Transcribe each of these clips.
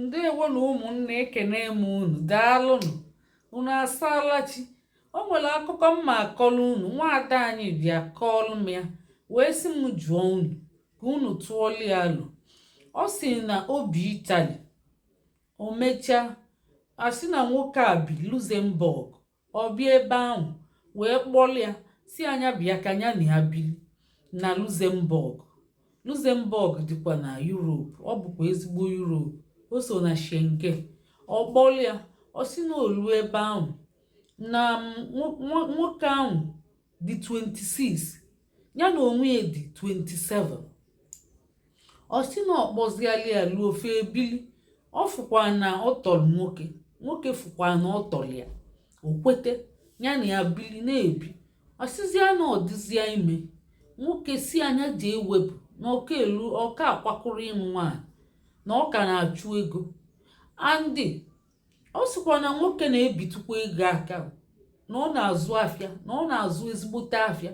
ndewo na ụmụnne ekene m unu daalụnụ unu asaala chi o nwere akụkọ m ma-akọlụ unu nwaada anyị bịa kọọlụ m ya wee sị m jụọ unu ka unu tụọlụ ya alo ọ sị na o bi Italy o mechaa asị na nwoke a bi Luxembourg ọ bịa ebe ahụ wee kpọlụ ya sị a nya bịa ka nya na ya bili na Luxembourg Luxembourg dịkwa na Europe ọ bụkwa ezigbo Europe o so na Schengen ọ kpọlụ ya ọ sị na o lu ebe ahụ na nwoke ahụ dị 26 ya na onwe ya dị 27 ọ sị na ọ kpọziala ya luo ofe e bili ọ fụkwa na ọ tọrọ nwoke nwoke fụkwa na ọ tọrọ ya o kwete ya na ya bili na-ebi ọ sịzịa na ọ dịzịa ime nwoke sị a nya je wepụ na ọ ka elu ọ ka akwakụrọ ịnụ nwaanyị na ọ ka na-achụ ego and ọ sịkwa na nwoke na-ebitụkwa ego aka na ọ na-azụ afịa na ọ na-azụ ezigbote afịa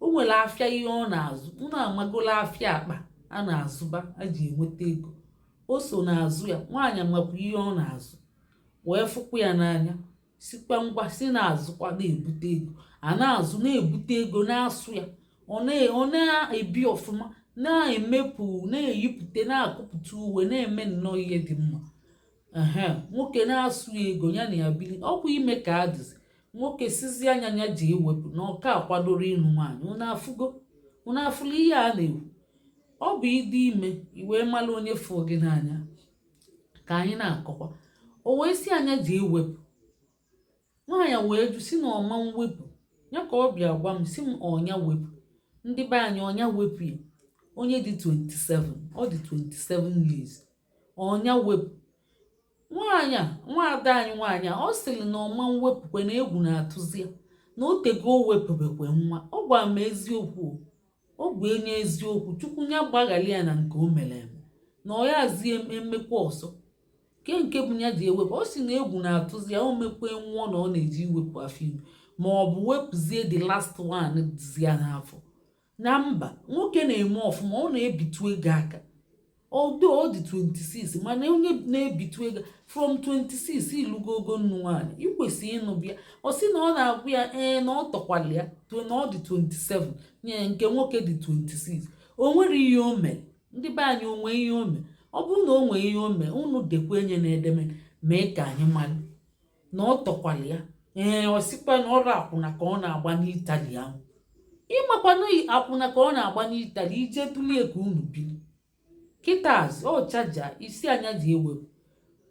o nwere afịa ihe ọ na-azụ unu amagola afịa akpa a na-azụba a ji enweta ego o so na-azụ ya nwaanyị makwa ihe ọ na-azụ wee fụkwa ya n'anya sịkwa ngwa sị na-azụkwa na-ebute ego a na-azụ na-ebute ego na-asụ ya ọ na-ebi ọfụma na-emepụ na-eyipụta na-akụpụta uwe na-eme nnọọ ihe dị mma ehe nwoke na-asụ ego ya na ya bili ọ kwa ime ka a dịzi nwoke sịzị a nya ya je wepụ na ọ ka akwadorọ ịnụ nwaanyị unu afụgo unu afụla ihe a na-ekwu ọ bụ ịdị ime i wee mara onye fụ gị n'anya ka anyị na-akọkwa o wee sị a nya je wepụ nwaanyị wee jụ sị na ọ ma mwepụ ya ka ọ bịa gwa m sị m ọ nya wepụ ndị be anyị ọ nya wepụ ya onye dị 27 ọ dị 27 years ọ nya wepụ nwaanyị a nwaada anyị nwaanyị a ọ sịrị na ọ ma mwepụkwa na egwu na-atụzi ya na o tego o wepụbekwe nwa ọ gwara m eziokwu o ọ bụ onye eziokwu chukwu ya gbaghara ya na nke o mere eme na ọ ya zi emekwa ọzọ ke nke bụ nya je wepụ ọ sị na egwu na-atụzi ya o mekwe nwụọ na ọ na-eje iwepụ afọ ime ma ọ bụ wepụzie the last one dịzi ya n'afọ na mba nwoke na-eme ọfụma ọ na-ebitu ego aka although ọ dị 26 mana onye na-ebitu ego from 26 i lugo ogo ịnụ nwaanyị i kwesị ịnụ bịa ọ sị na ọ na-agwa ya ee na ọ tọkwala ya na ọ dị 27 nya nke nwoke dị 26 o nwere ihe o mere ndị be anyị o nwe ihe o mere ọ bụrụ na o nwee ihe o mee unu dekwa enye na edeme mee ka anyị mara na ọ tọkwara ya ee ọ sịkwa na ọrụ akwụna ka ọ na-agba n'itali ahụ ị makwa na akwụna ka ọ na-agba n'itali ije tụlie ka unu biri kịtazị ọ chaja sị a nya je ewepụ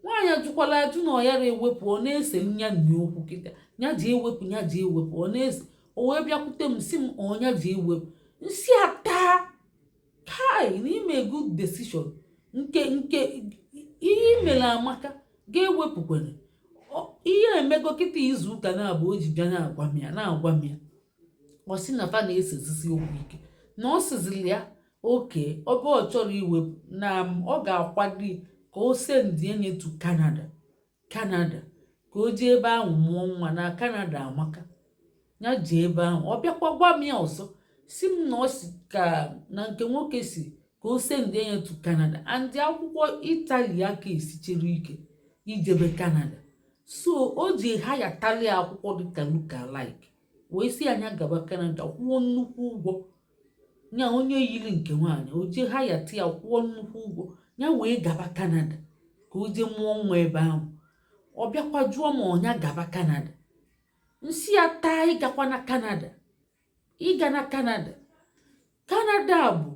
nwaanyị ajụkwala ajụ na ọ yara ewepụ ọ na-ese nya na ya okwu kịta nya je ewepụ nya je ewepụ ọ na-ese o wee bịakwute m sị m ọ nya je ewepụ m sị a taa kai na ime good decision nke nke ihe i mere amaka ga-ewepụkwere ihe e mego kịta izu ụka naabọ o ji bịa na-agwa m ya na-agwa m ya ọ sị na fa na-esezisi okwu ike na ọ sịziri ya okay ọ bụ ọ chọrọ iwepụ na ọ ga-akwado ka o sendie nye to Canada kanada ka o jee ebe ahụ mụọ nwa na kanada amaka ya jee ebe ahụ ọ bịakwa gwa m ya ọzọ si m na ọ si ka na nke nwoke si ka o sendị ya to kanada and akwụkwọ itali aka esichere ike ijebe kanada so o je hayatali akwụkwọ dịka lookalike wee sị a nya gaba kanada kwụọ nnukwu ụgwọ nya onye yiri nke nwaanyị o jee hayata ya kwụọ nnukwu ụgwọ ya wee gaba kanada ka o jee mụọ nwa ebe ahụ ọ bịakwa jụọ ma ọ nya gaba kanada m sị ya taa ịgakwana kanada ịgana kanada kanada bụ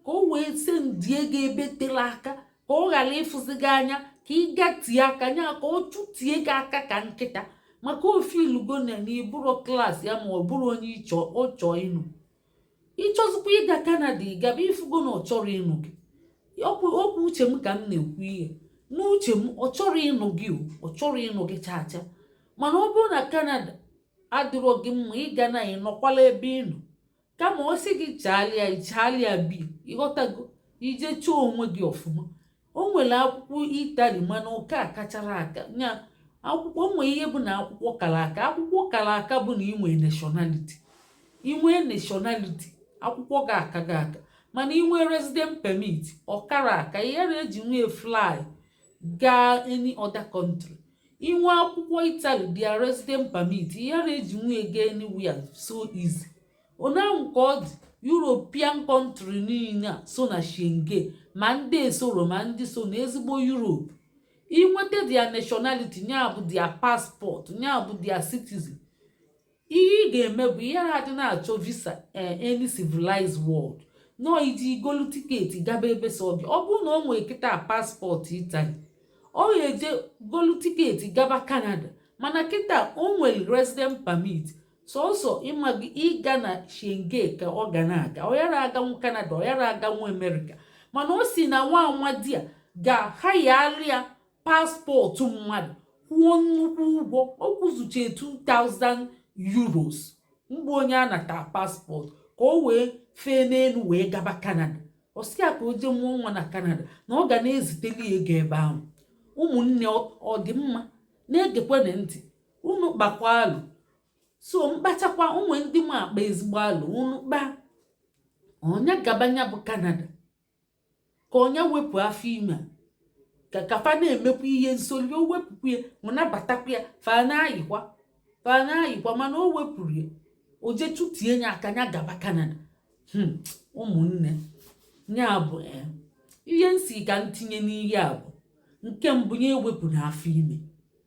ka o wee sendie gị ebe tere aka ka ọ ghara ịfụzi gị anya ka ị gatie aka nya ka ọ chụtie gị aka ka nkịta maka o feelugo na n'ị bụrọ klaasị ya ma ọ bụrụ onye ọ chọọ ịnụ ị chọzikwa ịga kanada ị gaba ifugo na ọ chọrọ ịnụ gị okwu uche m ka m na-ekwu ihe n'uche m ọ chọrọ ịnụ gị ọ chọrọ ịnụ gị chaa chaa mana ọ bụrụ na kanada adịrọ gị mma ịgana ị nọkwala ebe ị nọ kama ọ sị gị chaalịa ị chaalịa bi ịghọtago i je chọọ onwe gị ọfụma o nwere akwụkwọ itali mana ọ ka akachara aka nya akwụkwọ nwee ihe bụ na akwụkwọ kara aka akwụkwọ kara aka bụ na inwe nationality inwe nationality akwụkwọ gị aka gị aka mana inwe resident permit ọ kara aka ị yara ejinwu ya fly gaa any other country inwe akwụkwọ itali their resident permit ị yara ejinwu ya gaa anywhere so easy onye ahụ ka ọ dị european country niile a so na schengen ma ndị esoro ma ndị so na ezigbo europe inweta their nationality ya bụ their passport ya bụ their citizen ihe ị ga-eme bụ ị yara adị na-achọ visa eh, any civilized world nọ ije golu tiketi gaba ebe sọ gị ọ bụrụ na o nwee kịta paspọtụ itali ọ ga-eje golu tiketi gaba kanada mana kịta o nwere resident permit sọsọ ịma gị ịga na schengen ka ọ ga na-aga ọ yara aganwu kanada ọ yara aganwu amerịka mana o si na nwa amadị a ga-ahayalụ ya paspọtụ mmadụ kwụọ nnukwu ụgwọ ọ kwụzuchie 2000 euros mgbe onye a nata paspọtụ ka o wee fee n'elu wee gaba kanada ọ sị ya ka o jee mụọ nwa na kanada na ọ ga na-eziteli ego ebe ahụ ụmụnne ọ dị mma na-egekwana ntị unu kpakwa alụ so mkpachakwa ụmụ ndị m akpa ezigbo alụ unu kpaa ọ nya gaba nya bụ kanada ka ọ nya wepụ afọ ime ka ka fa na-emekwa ihe nsoli o wepụkwa ya ma nabatakwa ya fa na-ayịkwa fa na-ayịkwa mana o wepụrọ ya o je chụtie ya aka nya gaba kanada hmm, ụmụnne ya bụ eh, ihe m sị ka m tinye n'ihe a bụ nke mbụ ya ewepụna afọ ime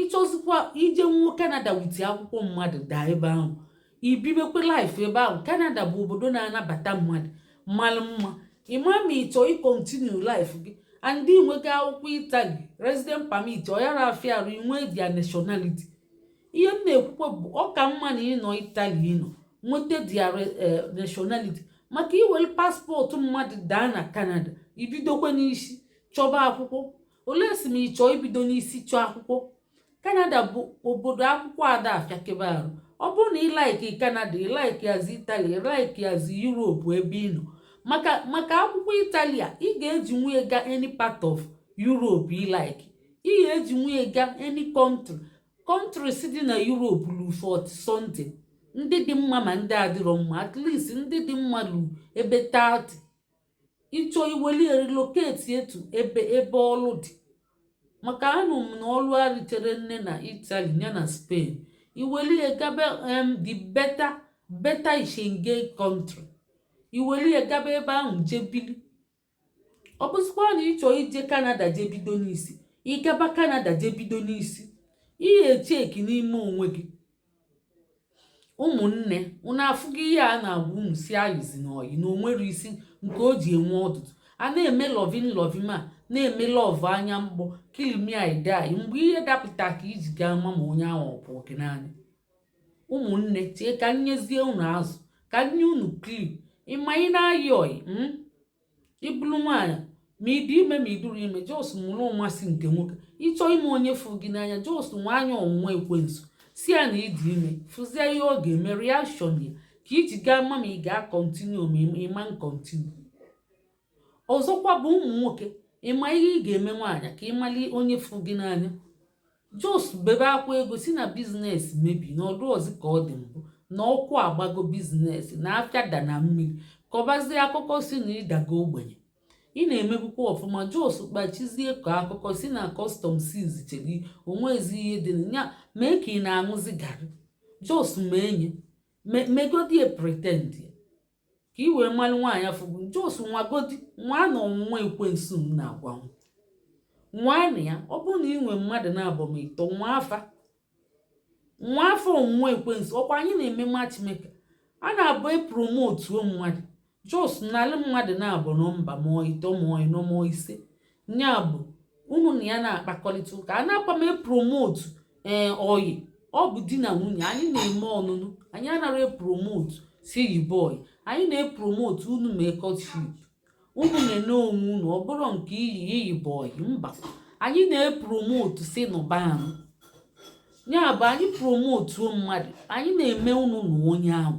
ịchọzikwa ije nwuo kanada with akwụkwọ mmadụ daa ebe ahụ ibibekwe life ebe ahụ kanada bụ obodo na-anabata mmadụ mmalụ mma ịma ma ịchọ ịkontinu life gị and i nwego akwụkwọ itali resident permit ọ yara afịa arụ inwe their nationality ihe m na-ekwukwe bụ ọ ka mma na ịnọ itali ịnọ nweta their eh, nationality maka iwere paspọtụ mmadụ daa na kanada ibidokwe n'isi chọba akwụkwọ unless ma ị chọọ ibido n'isi chọọ akwụkwọ kanada bụ obodo akwụkwọ ada afịakebe arụ ọ bụrụ na ịlaiki kanada ịlaiki azị itali ịlaiki azị yuropu ebe ị nọ maka akwụkwọ italia ị ga-eji nwee ga any part of yuropu ịlaiki ị ga-eji nwee ga any country countries dị na yuropu lu 40 something ndị dị mma ma ndị adịrọ mma at least ndị dị mma lu ebe 30 ịchọ iweli relocate etu ebe ebe ọlụ dị maka anụ m na ọlụ arịtere nne na Italy ya na Spain iweli gabe em the better Schengen country iweli gabe ebe ahụ jebili ọ bụzikwa na ịchọ ije Canada jebido n'isi ịgaba Canada jebido n'isi ị ya-echeki n'ime onwe gị ụmụnne unu afụgo ihe a na-agwa unu sị ayịzina ọyị na-enwerọ isi nke o ji enwe ọdụdụ a na-eme loving loving a na-eme love anya mkpọ kill me I die mgbe ihe dapụta ka iji ga-ama ma onye ahụ ọ fụ gị n'anya ụmụnne chee ka m nyezie unu azụ ka m nye unu clue ịma ị na-ayị ọyị ịbụrụ nwaanyị ma ị dị ime ma ị dịrọ ime just mụrụ ụma sị nke nwoke ịchọọ ịma onye fụ gị n'anya just nwaa nya ọnwụnwa ekwensu sị ya na ịdị ime fụzie ihe ọ ga-eme reaction ya ka iji ga-ama ma ị ga-akọntinu ma ịma nkọntinu ọzọkwa bụ ụmụ nwoke ịma ihe ị ga-eme nwaanyị ka ịmali onye fụ gị n'anya Jos bebe akwa ego si na biznes mebi na ọ dịrọzi ka ọ dị mbụ na ọkụ agbago biznes na afịa da na mmiri kọbazie akụkọ si na ị dago ogbenye ị na-emebukwa ọfụma jos kpachizie kọọ akụkọ si na kọstọm siz cheri o nwezi ihe dị na ya mee ka ị na-aṅụzi garị jos mee nye me- megodie pretend ka i wee malụ nwaanyị fụ gị jos nwagodi nwa na ọnwụnwa ekwensu m na-agwa unu nwaanụ ya ọ bụrụ na ị nwee mmadụ naabọ ma ịtọ nwaa fa nwaa fa ọnwụnwa ekwensu ọkwa anyị na-eme matchmaker a na-abụ e promotuo mmadụ jos nalụ mmadụ naabọ nọmba ma ịtọ ma ịnọ ma ise ya bụ unu na ya na-akpakọrịta ụka anaakwa m epromotu ee eh, ọyị ọ bụ di na nwunye anyị na-eme ọnụnụ anyị anaghị epromotu si yibe ọyị anyị na-epromotu unu mee courtship unu na-ene onwe unu ọ bụrụ nke iyi yibe ọyị mba anyị na-epromotu si nụbanụ ya bụ anyị promotuo mmadụ anyị na-eme unu na onye ahụ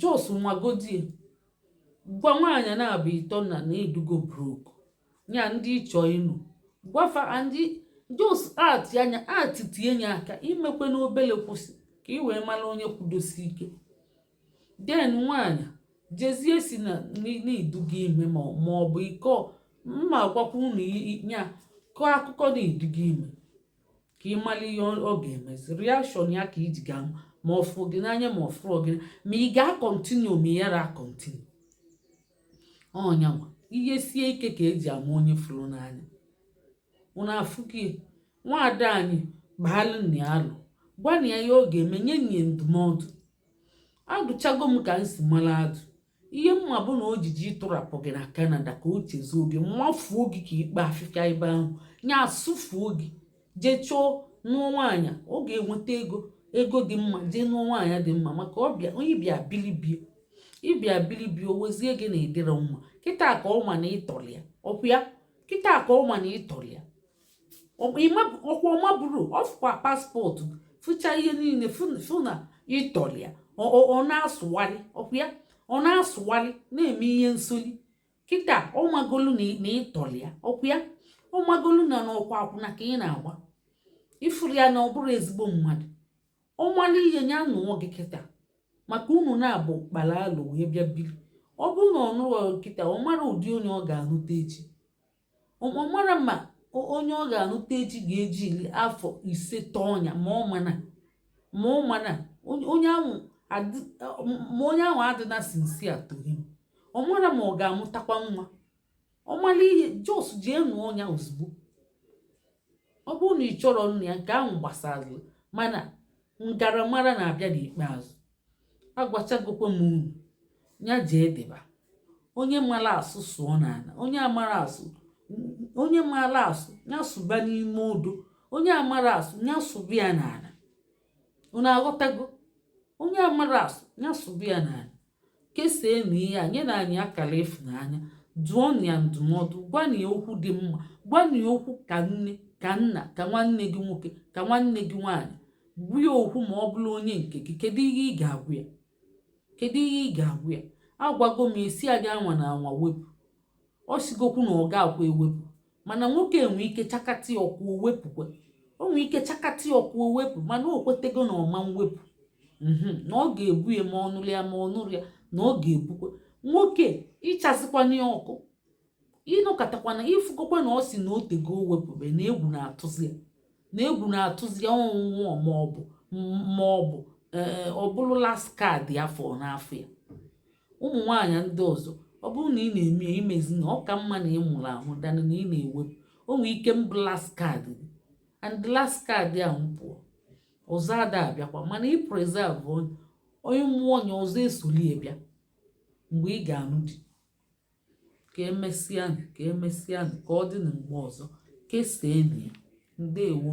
jos nwagodie gwa nwaanyị naabọ ịtọ na na ị dịgo broke nya ndị ị chọ ịnụ gwa fa ndị jos ati anya ati tie nye aka imekwe n'obele kwụsị ka ị wee mara onye kwudosi ike den nwaanyị jezie si na na ị dịgo ime ma ọ bụ iko m na-agwakwa unu nya kọọ akụkọ na ị dịgo ime ka ị mara ihe ọ ga-emezi reaction ya ka i ji ga-ama ọ fụrụ gị n'anya ma ọ fụrọ gị ma ị ga-akọntinu ma ị yara akọntinu ọ nya nwa ihe sie ike ka e ji ama onye fụrụ n'anya unu afụghị nwaada anyị gbaalụnụ ya alo gwanụ ya ihe ọ ga-eme nye nya ndụmọdụ adụchago m ka m si mara adụ ihe m ma bụ na ojiji ịtụrapụ gị na Canada ka o chezọọ gị mafuo gị ka ikpo afịfịa ebe ahụ nya asụfuo gị jee chọọ nụọ nwaanyị ọ ga-enweta ego ego dị mma jee nụọ nwaanyị dị mma maka ọbịa onye bịa bilibie ị bịa bilibie o wezie gị na ị dịrọ mma kịta ka ọ ma na ị tọrọ ya ọkwa ya kịta ka ọ ma na ị tọrọ ya ọkwa ọ maburu ọ fụkwa paspọtụ fụcha ihe niile fụ na ị tọrọ ya ọ na-asụgharị ọkwa ya ọ na-asụgharị na-eme ihe nsoli kịta ọ magolu na ị tọrọ ya ọkwa ya ọ magolu na n'ọkwa akwụna ka ị na-agba ị fụrụ ya na ọ bụrụ ezigbo mmadụ ọ malụ ihe ya nụọ gị kịta maka unu naabọ gbara alo wee bịa biri ọ bụrụ na ọ nụrụ kịta ọ mara ụdị onye ọ ga-anụta echi ọ mara ma onye ọ ga-anụta echi ga-eji iri afọ ise tọọ onye a ma ọ mana ma ọ mana onye ahụ ma onye ahụ adịna sincere to him ọ mara ma ọ ga-amụtakwa nwa ọ mara ihe just jee nụọ onye a ozugbo ọ bụrụ na ị chọrọ nna ya nke ahụ gbasara mana m gaara mara na-abịa n'ikpeazụ agwachagokwa m unu ya jee deba onye mara asụ sụọ n'ala onye amara asụ onye mara asụ ya sụba n'ime odo onye amara asụ ya sụba ya n'ala unu aghọtago onye amara asụ ya sụba ya n'ala keseenụ ihe a nyenụ anyị akara ịfụnanya dụọnụ ya ndụmọdụ gwanụ ya okwu dị mma gwanụ ya okwu ka nne ka nna ka nwanne gị nwoke ka nwanne gị nwaanyị gwa ya okwu ma ọ bụrụ onye nke gị kedu ihe ị ga-agwa ya kedu ihe ị ga-agwa ya agwago m ya sị ya anwana anwa wepụ ọ sịgokwu na ọ ga-akwa ewepụ mana nwoke a nwee ike chakata ya ọkụ o wepụkwa o nwee ike chakata ya ọkụ o wepụ mana o kwetego na ọ ma ewepụ mhm, na ọ ga-ebu ya ma ọ nụrụ ya ma ọ nụrọ ya na ọ ga-ebukwa nwoke ị chazikwana ya ọkụ ị nọkatakwana ị fụgokwa na ọ sị na o tego o wepụbe na egwu na-atụzi ya na egwu na-atụzi ya ọnwụnwụ maọbụ maọbụ ee ọ bụrụ last card ya fọ n'afọ ya ụmụ nwaanyị ndị ọzọ ọ bụrụ na ị na-eme ya ị mezina ọ ka mma na ị mụrụ amụ than na ị na-ewepụ o nwee ike bụ last card gị and last card ahụ pụọ ọzọ ada abịakwa mana ị preserve onye a mụọ onye ọzọ esoli ya bịa mgbe ị ga-anụ di ka emesịa ka emesịa ka ọ dị na mgbe ọzọ keseenụ ya ndewo